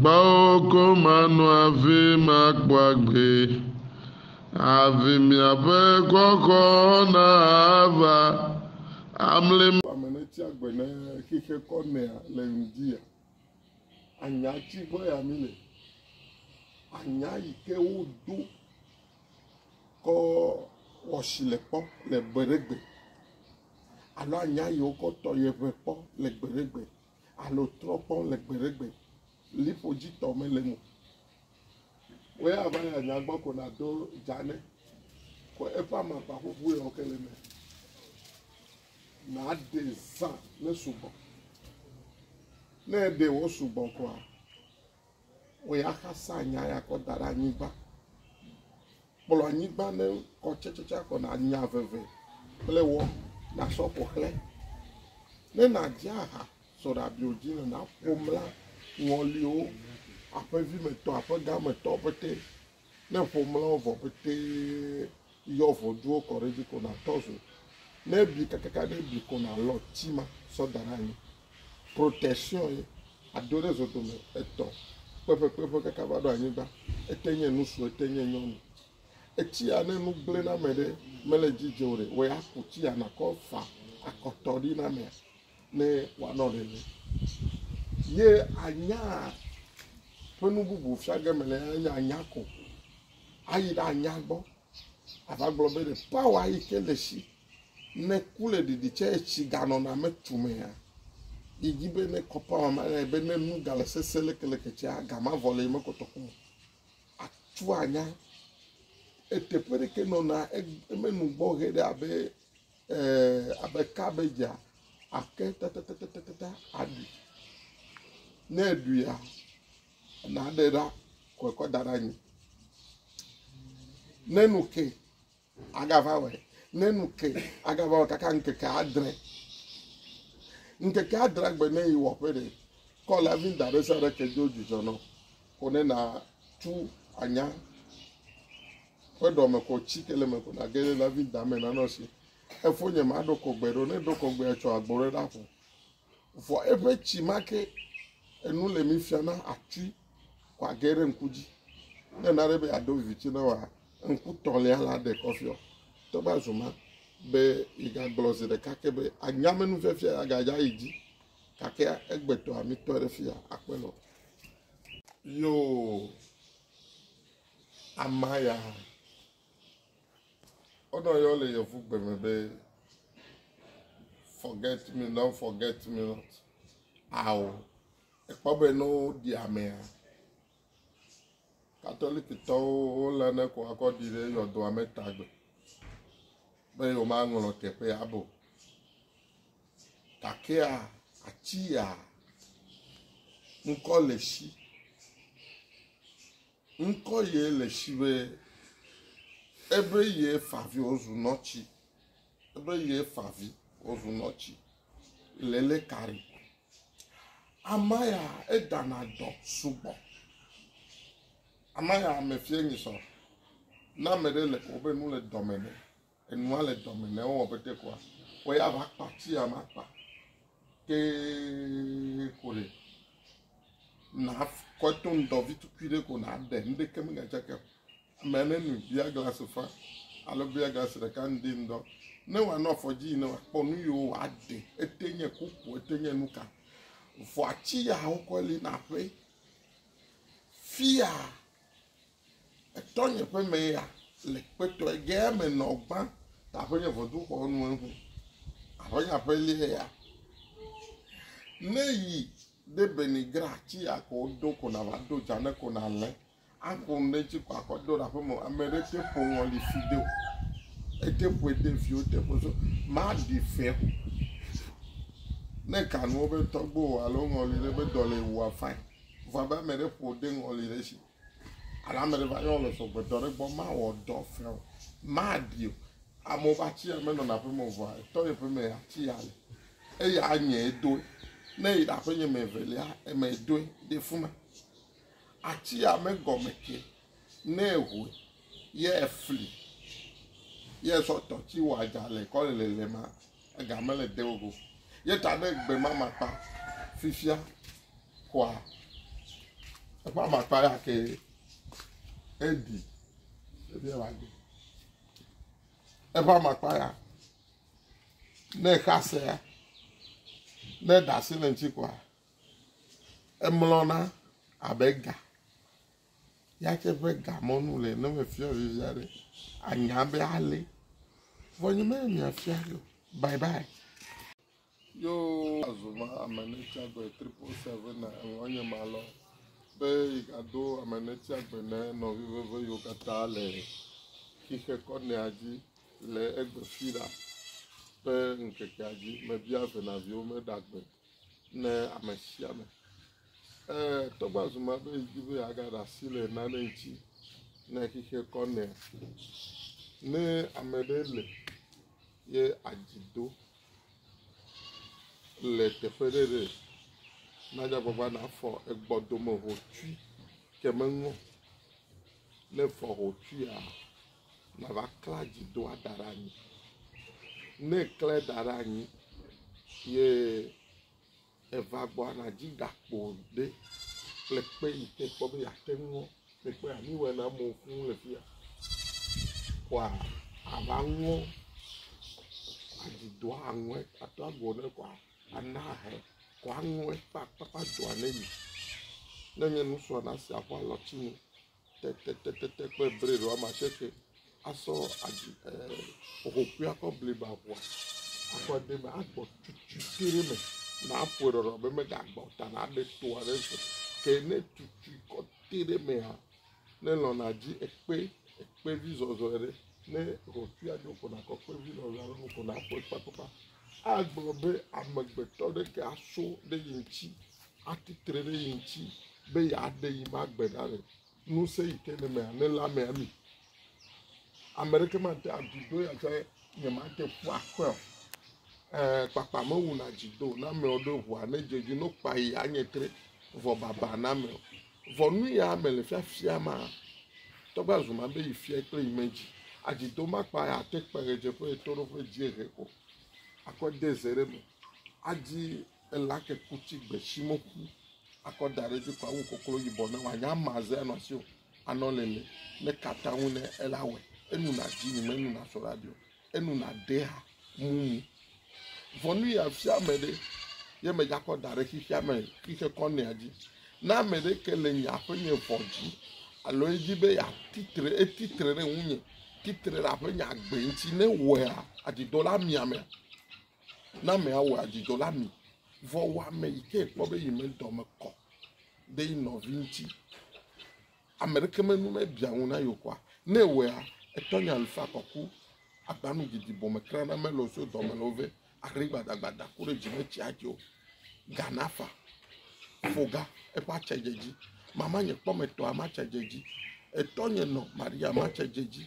Gbɔwò ko mano hafi makpɔ agbe, Hafi miaƒe xɔxɔ nava amlim. Ame ne tsi agbe ne xexe kɔ nɛa le ŋdia anya tsi gbɔ ya mi le anya yi ke wo do kɔ wɔshi le kpɔ le gbe ɖe gbe alo anya yi wo kɔ tɔ ye ʋe kpɔ le gbe ɖe gbe alo trɔ kpɔ le gbeɖegbe liƒo dzi tɔ mele mo. Wo ya va ya nya gbɔ ko na do dzane ko eƒe amakpa ƒuƒu ya ke le me. Na de zã ne sugbɔ. Ne de wo sugbɔ koa Wɔ ya xasa nya ya kɔ da ɖe anyigba. Kplɔ anyigba ne kɔ tsetsetse kɔ na nya veve kple wɔ na sɔ kɔ xlẽ. Ne na dze aha sɔ ɖe abio dzi ne na ƒom la ŋɔliwo aƒe vi me tɔ aƒe ga me tɔ pɛtɛ Ne ƒo mlɔwo vɔ pete yɔ ʋɔduwo kɔ ɖe edzi ko natɔ zo. Ne ebi kakaka ne ebi ko nalɔ ti ma sɔ da ɖe anyi. Protection ye ado ɖe zodome etɔ kpeƒekpeƒe kaka va ɖo anyigba. Ete nye nusu ete nye nyɔnu. Etsia ne nu gblẽ na ame ɖe mele edzi dze o ɖe wɔ ya ku tsia nakɔ fa akɔtɔ ɖi na amea. ne wòanɔ nene. Ye anya ƒe nu bubu fia ge mele ya nye anya ko. Ayi ɖe anya gbɔ ava gblɔ be ɖe pawa yi ke le si ne ku le ɖiɖi tsɛ etsi ganɔna me tumea. Yi dzi be ne kɔ pawa ma nɛ be ne nu gale sese lekeleke tsɛa ga ma vɔ le yi mekɔtɔ ku o. Atsu anya eteƒe ɖeke nɔna e- emenu gbɔ ʋɛ ɖe abe Eee abe kabedzia, àke tatatatatata aɖui. Ne èɖuia, nàɖe ɖa kɔ kɔ da ɖe anyi. Ne nu ke agava wɔe, ne nu ke agava wɔ kaka ŋkeke adre. Ŋkeke adre gbe ne yi wɔƒe ɖe, kɔ lavinda ɖe sia ɖe ke dzo dzudzɔ nɔ. Ko ne nàtu anya ƒe ɖɔ me kɔ tsi ke le me kɔ nage ɖe David da me nanɔ si. Efo nye ma ɖɔ kɔgbe ɖɔ ne ɖɔ kɔgbe atsɔ agbɔ ɖe ɖa ƒo. Vɔ eƒe tsi ma ke enu le mi fia na atui kɔ age ɖe ŋku dzi. Ne na ɖe be aɖo vivitsi na wa ŋku tɔlia la ɖe kɔfiɔ. Tɔgba zuma be igagblɔ zi ɖeka ke be anyame nu fiafia agadza yi dzi. Gake egbetɔ amitɔ ɖe fia akpe nɔ. Yoo. Amaya, wonɔ yɔ le yevu gbe me be forget me not forget me not ao ekpɔ be ne woɖi amea katolikitɔwo wolé ne ko akɔ ɖi ɖe yɔdoa me tagbe be yewomaŋlɔ teƒea abo gakea atia ŋkɔ le si Ŋkɔ yɛ le shi be ebe yɛ favi wozu nɔtsi. Ebe yɛ favi wozu nɔtsi le lé kari. Ama ya edana dɔ sugbɔ. Ama ya mefiɛ nyi sɔ. Na meɖe le wobe nu le dɔme nɛ. Enua le dɔme ne wowɔ be tekoa wo ya va kpa tia ma kpa tee ko ɖe na kɔto ŋdɔvi tukui ɖe ko na ɖe nuɖeke megatsaka ame ne nu bia glasi fa alo bia glasi ɖeka ŋdi ŋdɔ ne wòanɔ afɔ dzi ne wòakpɔ nu yiwo wòaɖe ete nye kuku ete nye nu ka vɔ ati yawo kɔ li na ƒe fia Etɔnye ƒe me ya le kpetɔe ge eme nɔ gbã ta ƒe nye ʋɔduxɔ nu eŋu. Aƒe nye aƒe lie ya. Ne yi ɖe bene gra tsi akɔ do ko na va do dza ne ko na le akɔ nu ɖe tsi ko akɔ do ɖe aƒe me ame ɖe te ƒo ŋɔli fi de o. Ete ƒoe de viwo te ƒo so ma ɖi fɛ. Ne kanuwo be tɔgbo alo ŋɔli ɖe be dɔ le wua fain. Vɔ abe ame ɖe ƒo de ŋɔli ɖe tsi. Ale ame ɖe va yɔ le sɔgbedɔ ɖe gbɔ, mawɔ dɔ fia o, maɖi o. Amewo ƒe ati ya menɔna aƒe me o, vɔa etɔ ye ƒe me ati ya le. Eya anye edoe. Ne yi ɖe aƒenye me evelia, eme edoe ɖe fuma. Ati ya megɔme ke ne ehoe ye efli ye sɔ tɔti wɔ adza le kɔ le lelema. Ega mele de wo go. Ye ta ɖe gbe ma makpa fifia kɔa eƒe amakpa ya ke eɖi ebi eva gbe. Eƒe amakpa ya ne exa se ya ne eɖe asi le ŋuti kɔa emlɔna abe ga Nyateƒe ga mɔ nu le ne mefia vivi aɖe anya be ale. Vɔ nye me mia fia yo. Bye bye. Yo azu ma ame ne tsi agbe triple seven na eŋɔ nye ma lɔ. Be yi ga do ame ne tsi agbe ne nɔ vivi ve yo kata le xixe kɔ ne adzi le egbe fi la. Be ŋkeke adzi me bia ve na viwo me ɖagbe. ne ame sia ame. Ee, tɔgba zu ma be di be agaɖe asi le nane ŋuti ne xexea kɔ nɛ. Ne ame ɖe le ye adzi do le teƒe ɖe ɖe nadzagbagba nafɔ egbɔ dome hotui ke meŋɔ ne fɔ hotuia nava klẽ adzidoa da ɖe anyi. Ne eklẽ da ɖe anyi ye eva gbɔa, nàdi gakpo ɖe kple kpe yi ke kpɔ be yeate ŋu le kpea nu wɔe na amewo fũu le fi ya. Kɔa ava ŋɔ adzidoa aŋɔe ato agbo ne kɔa ana ahe kɔa aŋɔe kpakpakpa doa ne yi. Ne nye nusrɔ̃la sia ƒe alɔtsinu tetetetete kple bred woame asieke asɔ aɖi ee ƒoƒoƒui akɔ bliba ŋua akɔ de eme agbɔ tututu ɖe eme na aƒoe ɖɔɖɔ be megagbɔ o ta na aɖe to aɖe so ke ne tutui kɔ te ɖe emea ne lɔna dzi ekpe ekpevi zɔzɔe ɖe ne ʋɔtruia ɖo ko nakɔ kpevi zɔzɔe aɖe ko naƒoe kpakpakpa. agblɔ be amegbetɔ ɖeke aso ɖe ye ŋuti atsi tre ɖe ye ŋuti be yeaɖe yi ma gbe ɖa le ŋusẽ yi ke le mea nelé amea mi. Ame ɖeke mate avi do ya be nyemate ƒu akɔe o. Ee, kpakpa mewuna dzi do na amewo ɖo ʋua ne dze dzi no kpa yi anye tre vɔ baba na ame o. Vɔ nuya me le fiafia ma, tɔgbe azuma be yi fia kple yi medzi. Adzi do makpa ya te kpe ɣedzeƒe eto ɖo ƒe dziehe ko. Akɔ de ze ɖe me. Adzi ela ke kutsi gbe shi mo ku. Akɔ da ɖe dzi ko awu koklo yibɔ ne wa nya ma ze anɔ si o. Anɔ lele ne kata ŋu ne ela wɛ. Enu na dzi ni me nu na sɔ ɖa dio. enu nàɖee ha mumu. Vɔ nu yeafia ame ɖe, ye medzakɔ da ɖe xexea me xixe kɔnɛa dzi. Ne ame ɖeke le nye aƒenye vɔ dzi, alo edi be yeatitre etitre ɖe ŋunye, titre ɖe aƒenye agbe ŋuti, ne wɔea adzidzɔ la mi amea, ne amea wɔ adzidzɔ la mi. Vɔ wɔ ame yi ke kpɔ be yi me dɔ me kɔ ɖe yi nɔvi ŋuti. Ame ɖeke me nu mebia ŋu na yewo kɔa? Ne ewɔea, etɔ nya lu faa kɔku, agba nu didi bɔ me kra na mele o so dɔme le wo ve, aɖe gbadagbada ku ɖe dzi me tsi adze o. Ga na fa, fo ga, eƒe atse dze dzi. Mama nye kpɔ me tɔa, matse dze dzi. Etɔ nye nɔ, Maria, matse dze dzi.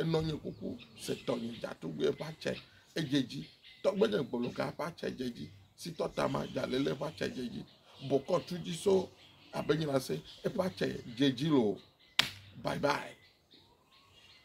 Enɔ nye kuku se tɔnye datugbɛ ƒa tse edze dzi tɔgbe nye gbologa ƒa tse edze dzi si tɔ tama jalele ƒa tse edze dzi bokɔ tu dzi so abe nyina se eƒa tse edze dzi lo bye bye.